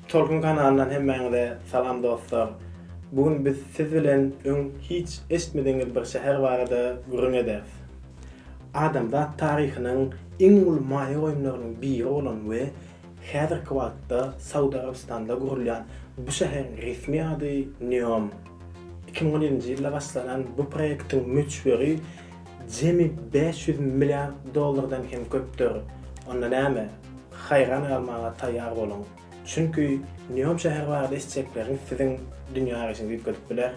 Tolkun kanalyndan hemmäňize salam dostlar. Bu gün biz siz bilen öň hiç eşitmedigiňiz bir şäher barada gürrüň ederis. Adamzat taryhynyň iň uly maýa goýumlarynyň biri bolan we häzirki wagtda Saud Arabystanda gurulýan bu şäheriň resmi ady Neom. Iki müň on ýedinji ýylda başlanan bu proýektiň möçberi Jemi bäş ýüz milliard dollardan hem köpdür. Onda näme? Haýran galmaga taýýar boluň. Çünki Neom şäheri barada eşitjekleriňiz siziň dünýä garaýşyňyzy üýtgedip biler.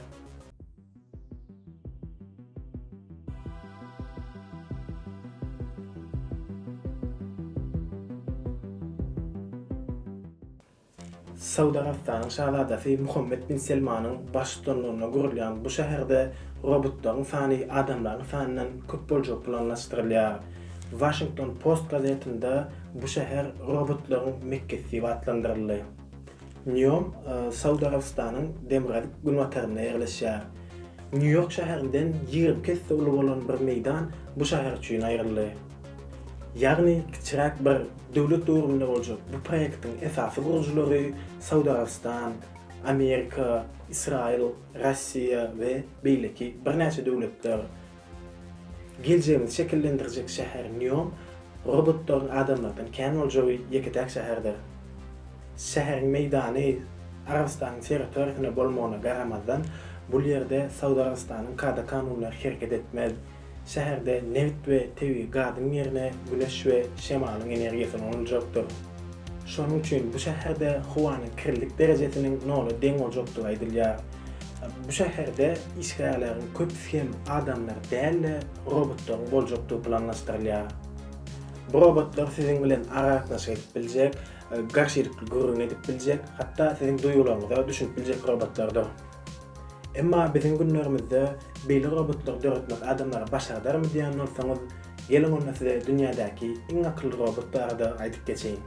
Saud Arabystanyň Şazadasy Muhammed bin Selmanyň baştutanlygynda gurulýan bu şäherde robotlaryň sany adamlaryň sanyndan köp boljagy planlaşdyrylýar. Washington Post gazetinde bu şäher robotlaryň Mekgesi diýip atlandyryldy. Nýom Saud Arabystanyň demirgazyk günbatarynda ýerleşýär. Nýu-Ýork şäherinden ýigrimi iki esse uly bolan bir meýdan bu şäher üçin aýryldy. Ýagny kiçiräk bir döwlet döwründe boljak bu proýektiň esasy gurujylary Saud Arabystan, Amerika, Ysraýyl, Russiýa we beýleki birnäçe döwletler. Geljegimizi şekillendirjek şäher Neom robotlaryň adamlardan kän boljagy ýeke-täk şäherdir. Şäheriň meýdany Arabystanyň territoriýasyna bolmagyna garamazdan, bul ýerde Saud Arabystanyň kada-kanunlary hereket etmez. Şäherde nebit we tebigy gazyň ýerine güneş we şemalyň energiýasy ulanyjakdyr. Şonuň üçin bu şäherde howanyň kirlilik derejesiniň nola deň boljakdygy aýdylýar. Bu şäherde işgärleriň köpüsi hem adamlar däl-de, robotlaryň boljakdygy planlaşdyrylýar. Bu robotlar siziň bilen aragatnaşyk edip biljek, garşylykly gürrüň edip biljek, hatda siziň duýgularyňyza düşünip biljek robotlardyr. Emma biziň günlerimizde beýle robotlary döretmek adamlara başardarmy diýen bolsaňyz, geliň onda size dünýädäki iň akylly robot barada aýdyp geçeýin.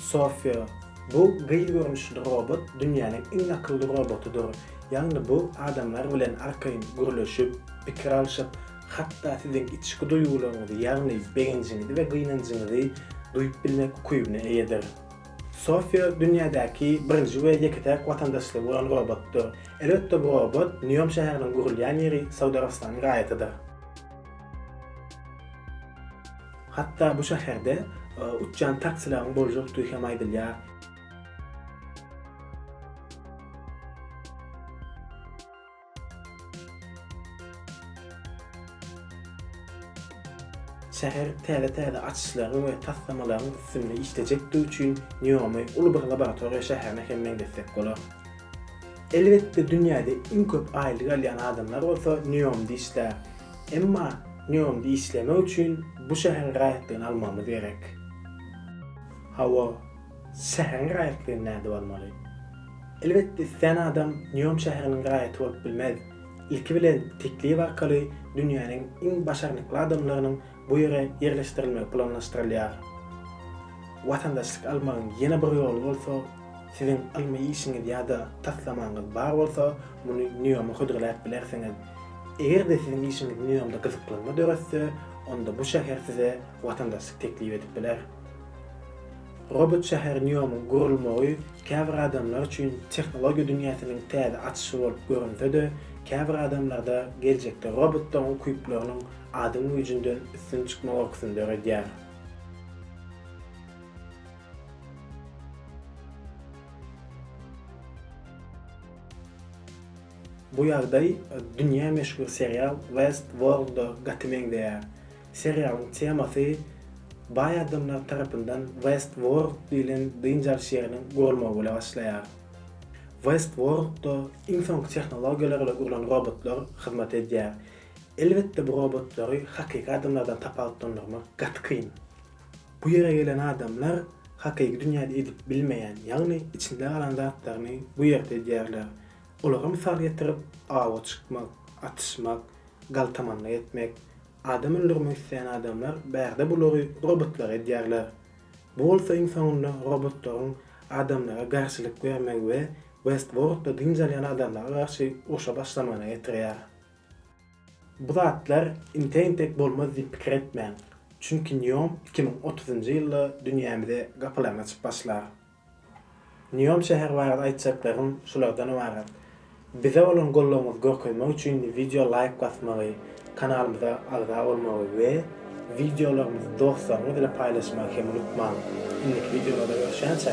Sofia, bu gyz görnüşli robot dünýäniň iň akylly robotydyr, ýagny bu adamlar bilen arkaýyn gürleşip, pikir alşyp, hatda siziň içki duýgularyňyzy, ýagny begenjiňizi we gynanjyňyzy duýup bilmek ukybyna eýedir. Sofia dünýädäki birinji we ýeke-täk watandaşlygy bolan robotdyr. Elbetde bu robot Neom şäheriniň gurulýan ýeri Saud Arabystanyň raýatydyr. Hatda bu şäherde uçýan taksilaryň boljakdygy hem aýdylýar. Şäher täze-täze açyşlaryň we taslamalaryň üstünde işlejekdigi üçin NIOM-y uly bir laboratoriýa şäherine hem meňzetsek bolar. Elbetde dünýäde iň köp aýlyk alýan adamlar bolsa NIOM-da işlär. Emma NIOM-da işlemek üçin bu şäheriň raýatlygyny almagymyz gerek. Hawa, Şäheriň raýatlygy näde bolmaly? Elbetde islän adam Nýom şäheriniň raýaty bolup bilmez. Ilki bilen teklip arkaly dünýäniň iň başarnykly adamlarynyň bu ýere ýerleşdirilmegi planlaşdyrylýar. Watandaşlyk almagyň ýene bir ýoly bolsa, siziň ylmy işiňiz ýa-da taslamaňyz bar bolsa, muny Nýoma hödürläp bilersiňiz. Eger-de siziň işiňiz Nýomda gyzyklanma döretse, onda bu şäher size watandaşlyk teklip edip biler. Robot şäher NIOM-yň gurulmagy käbir adamlar üçin tehnologiýa dünýäsiniň täze açyşy bolup görünse-de, käbir adamlarda geljekde robotlaryň ukyplarynyň adam güýjünden üstün çykma gorkusyny döredýär. Bu ýagdaý dünýä meşhur serial Westworld-a gaty meňzeýär. Serialyň temasy baý adamlar tarapyndan Westworld diýlen dynç alyş ýeriniň gurulmagy bile başlaýar. Westworld-da iň soňky tehnologiýalar bilen gurlan robotlar hyzmat edýär. Elbetde bu robotlary hakyky adamlardan tapawutlandyrmak gaty kyn. Bu ýere gelen adamlar hakyky dünýäde edip bilmeýän, ýagny içinde galan zatlaryny bu ýerde edýärler. Olary mysal getirip, awa çykmak, atyşmak, galtamanlyk etmek, Adam öldürmek isleýän adamlar bärde bulary robotlara edýärler. Bu bolsa iň soňunda robotlaryň adamlara garşylyk bermegi we Westworldda dynç alýan adamlara garşy urşa başlamagyna getirýär. Bu zatlar entegin tek bolmaz diýip pikir etmäň. Çünki Neom iki müň otuzynjy ýylda dünýämize gapylaryny açyp başlar. Neom şäheri barada aýtjaklarym şulardan ybarat. Bize bolan goldawyňyzy görkezmek üçin wideo laýk basmagy, kanalymyza agza bolmagy we wideolarymyzy dostlaryňyz bilen paýlaşmagy hem unutmaň. Indiki wideolarda görüşýänçä!